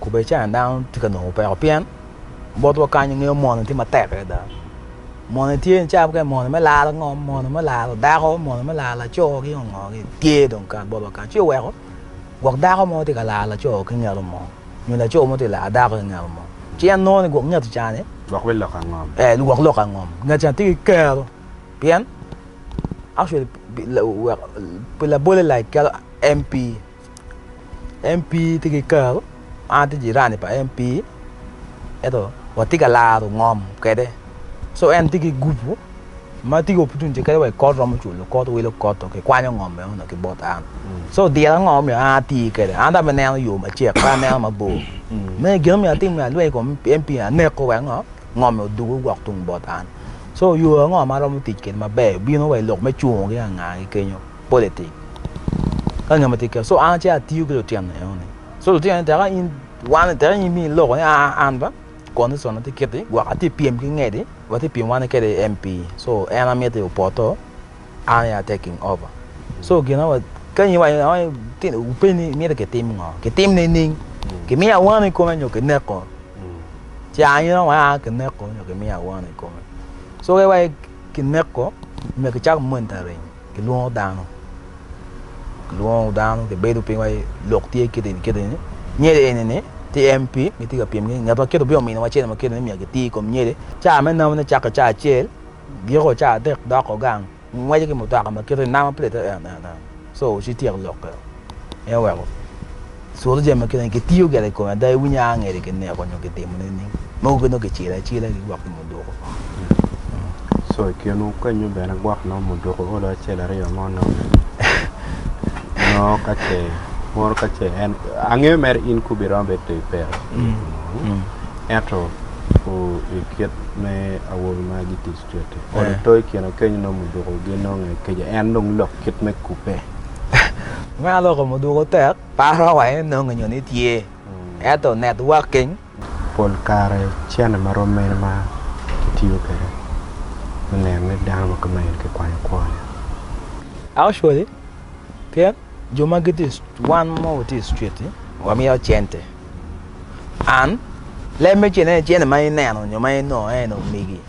Kube i China dano tye ka nongo peko pien botwa kany ingeyo moni tye matek adada. Moni tye ni cawa mukene moni me lalo ngom, moni me lalo dako, moni me lalo laco ki ngo ngo tye dong kan botwa kany. Ci oweko gwok dako mo tye ka lalo laco ki ngelo mo nyo laco mo tye ka lalo dako ki ngelo mo. Ci en nongo ni gwok nget i China-ni, Gwok me lok angom. eh gwok lok angom, nget China tye ki kero pien actually pi labolle like calo MP MP tye ki kar an atye jirani pa MP ento watye ka laro ngom kwede so en tye ki gupu ma tye ki opportunity kadi wa i kot romo culo kot wilo kot dong kikwanyo ngom meno dong ki bot an so odira ngo omiyo an ati kwede an dong amineno yo macek pe aneno mabor me gin omiyo atim ni alweny i kom MP ni aneko wek ngo ngom-mi odugu wok tung bot an so yo ango ma aromo tic kwede maber bino wa i lok me cungo ki angagi kenyo politic ka ngat ma tye ker so an acito atiyo ki lutino enoni so lutino ni teka in wan teka in mi iloko ni aa an ba condition atye kiti gwok atye pyem ki ngedi watye pyem wan kede MP so en amiti opoto an aye taking over so gina wa ka in iwaco ni tino wupeny ni miti kitim ngo kitim nining kimiyo awano i kome nyo kineko ci an ina wa kineko nyo kimiyo awano i kome so ka iwaco kineko myero kicak monitoring Kilwongo dano, kilwongo dano kibedo piny wa lok tye kit eni kit eni, nyede eni ni tye MP gitye ka pyem ni ngat ma kit obino miniwa cene ma kit eni myero giti i kom nyede, caa me namo ne cake caa acel giko caa adek doko gang ngweco ki mutoka ma kit eni namo plate en en en so ci tyek lokke en oweko. Cwalo jami ma kine ni kitiyo gire i kome ada iwinyo a ngeri ki neko nyo ki timo nining? Mogo ki nongo kicilo acila ki gwok nyo muduko. Co i kinwu kenyu bene gwok nongo muduko olo acel aryo mo nongo nongo ka ce mono ka ce en angeyo mere in kubi romo bedo to ipero ento o i kit me awobi ma gitic cwete olo to i kine kenyu nongo muduko gi nongo nge keca en dong lok kit me kube. Meno lok ma odwogo tek, paro wa en nonge nyo ni tye. Ento networking. Pol kare cene ma rom mene ma kitiyo kwede me neno ni dano ma kama eni kikwanyo kwone? Actually, pien jo ma gitye wan ma watye i street-ti wamiyo cente. And leb me cente-ni cente ma ineno nyo ma inongo en omegi.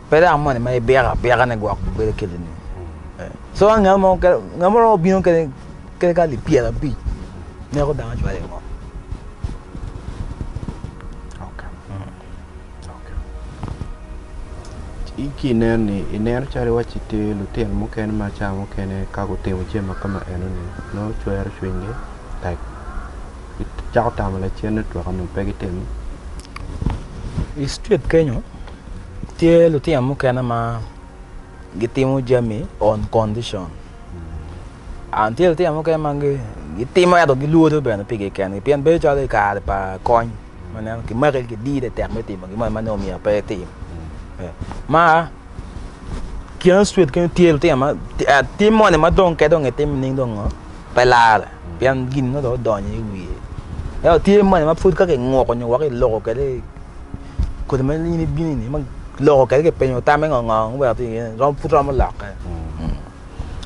Pe dang moni ma ibiko abika ni gwok bedo kiti ni. So ka ngat mo ngat mo romo bino kene kene ka lipyel abic neko dang acwalo i ngom. I ki ineni ineno calo iwacci tye lutino mukene ma cawa mukene ka gutimo jami ma kama enoni nongo cwero cwinygi tek. gicako tamo lacen ni otweko nyo pe gitimo. I street kenyo tye lutino mukene ma gitimo jami on condition. An tye lutino mukene ma gitimo ento gilwodo bene pi gikengi pien bedo calo i kare pa kony ma neno kimaki kidire tek me timo gin moni ma nongo myero pe itim. Ma kine street kenyo tye lutino ma tim moni ma dong ke dong itimo nining dong pe larre. pien gin ma dong odonyo i wiye. Ento tye moni ma pud ka kinguko nyo weko iloko kwede kodi ma in ibino ni ma loko kwede kipenyo tamme ngo ngo ma iweko iye ni pud romo lokke.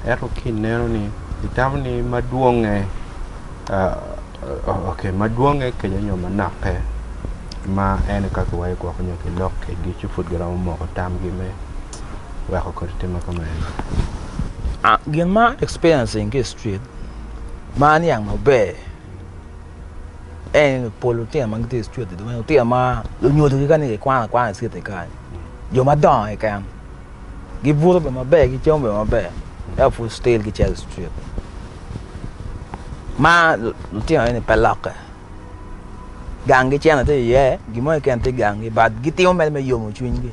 Ento ka ineno ni itamo ni madwonge ok madwonge kece nyo manokke ma en aye ka kiwaco ni gwoko nyo kilok ki ducu pud giromo moko tamgi me weko kodi timme kumeno. Gin ma an experiencing ki i street ma aniang maber en pol lutino ma gitye i cwete dong lutino ma lunyodogi kani gikwano akwana i cwete kany jo madongo keken gibuto bene maber gicamo bene maber ento pud still gicito i cwet ma lutino eni pe lokke gang gicito iye gin mo keken tye i gangi but gitimo mere me yomo cwinygi.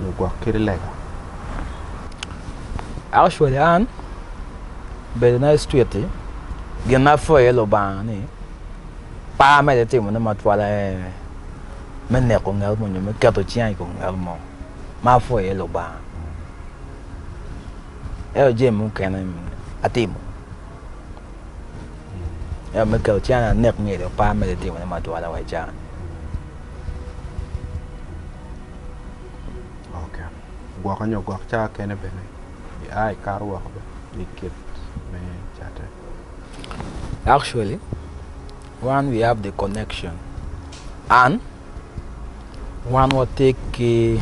lugwok kit lega. Actually an bedo na i street ti gin na apwoyo iye Lubanga ni pe amedde timone matwal aye me neko nget mo nyo me keto cinga i kom nget mo ma apwoyo iye Lubanga. Ento jami mukene atimo. Ento me keto can anek myero ipar me timo ne matwal wa i can ok gwoke nyo gwok cawa kene bene i a ikato woko bene me kit me catte actually wan we have the connection and wan watye ki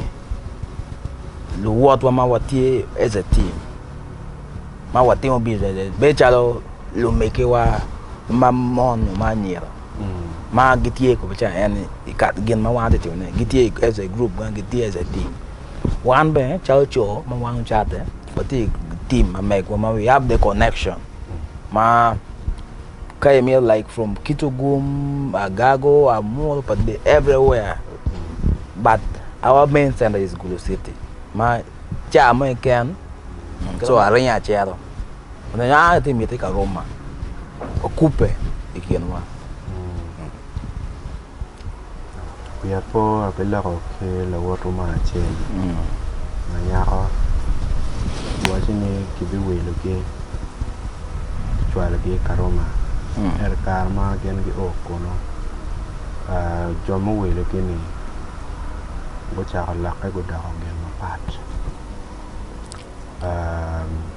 luwotwa ma watye as a team ma watimo business bedo calo lumegiwa ma mon nyo ma anyira ma gitye kome ca en i ka gin ma wan watye ka timone gitye as a group ma gitye as a team wan bene calo co ma wan ocatte watye i team ma megwa ma we have the connection ma Ka imito like from Kitugum, Agago, Amuru, Padidi, everywhere. But our main center is Gulu City. Ma ca mo iken, so aringo acero. Onongo an ati miti ka Roma. Okubbe i kinwa. wiya pe ape loko ki lawotu mo acel ma nyako owaco ni kibiwilogi kicwalogi i Karuma ento i kare ma gin guo kunu jo muwilogi-ni gucako lokke gudoko gin mapat.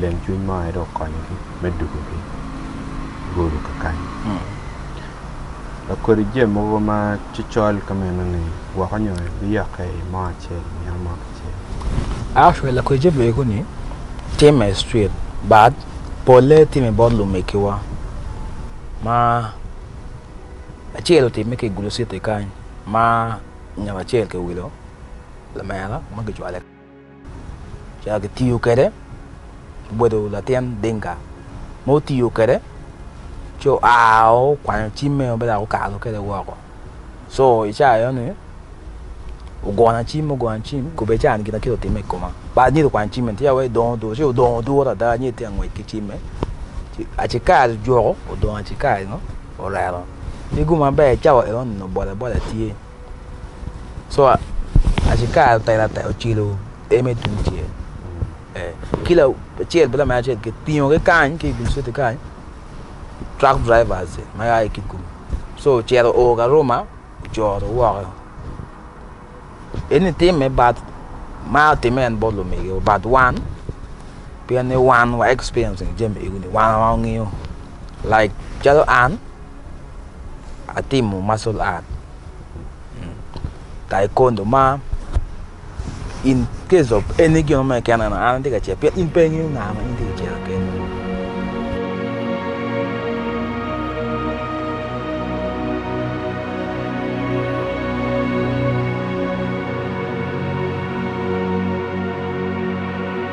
Leng cwiny mo aye dong okonyogi me dugo ki golo kakanyi. Lakodi jami mogo ma cocol ka meno-ni woko nyo biyokke i mo acel i nino mo kicel. Actually, lakodi jami mego-ni timme i street but polle timme bot lumegiwa ma acel otimme ki i Gulu City kany ma ngat acel kiwilo lamera ma kicwale. Ca kitiyo kwede obedo latin Dinka ma otiyo kwede ci oa okwanyo cimme ma dok okato kwede woko co i ca enoni ogono acim ogono acim kobedi cawa gin acel otimme i koma bad nyedo okwanyo cimme ni tika wai dong odur ci odong adur ada nyedo tye ka ngwec ki cimme ci acikari ojoko odong acikarinio orero ki gung maber cawa enoni obole bole tye so aci kare otek latek ocilo en me tum cel ki lacel bene lamer acel kitingo ki kany ki dul citi kany truck drivers ma ya ki kikumi so ocito oo ki aruma ocoro woko eni timme bat ma timme en bot lumegiwa bat wan pien ni wan wa experiencing jami eni wan awa wangeyo. Like calo an atimo martial art, taekwondo ma in case of any gin mo keken an atye ka cito pien in pe ingeyo nga ma in itye ka cito kene.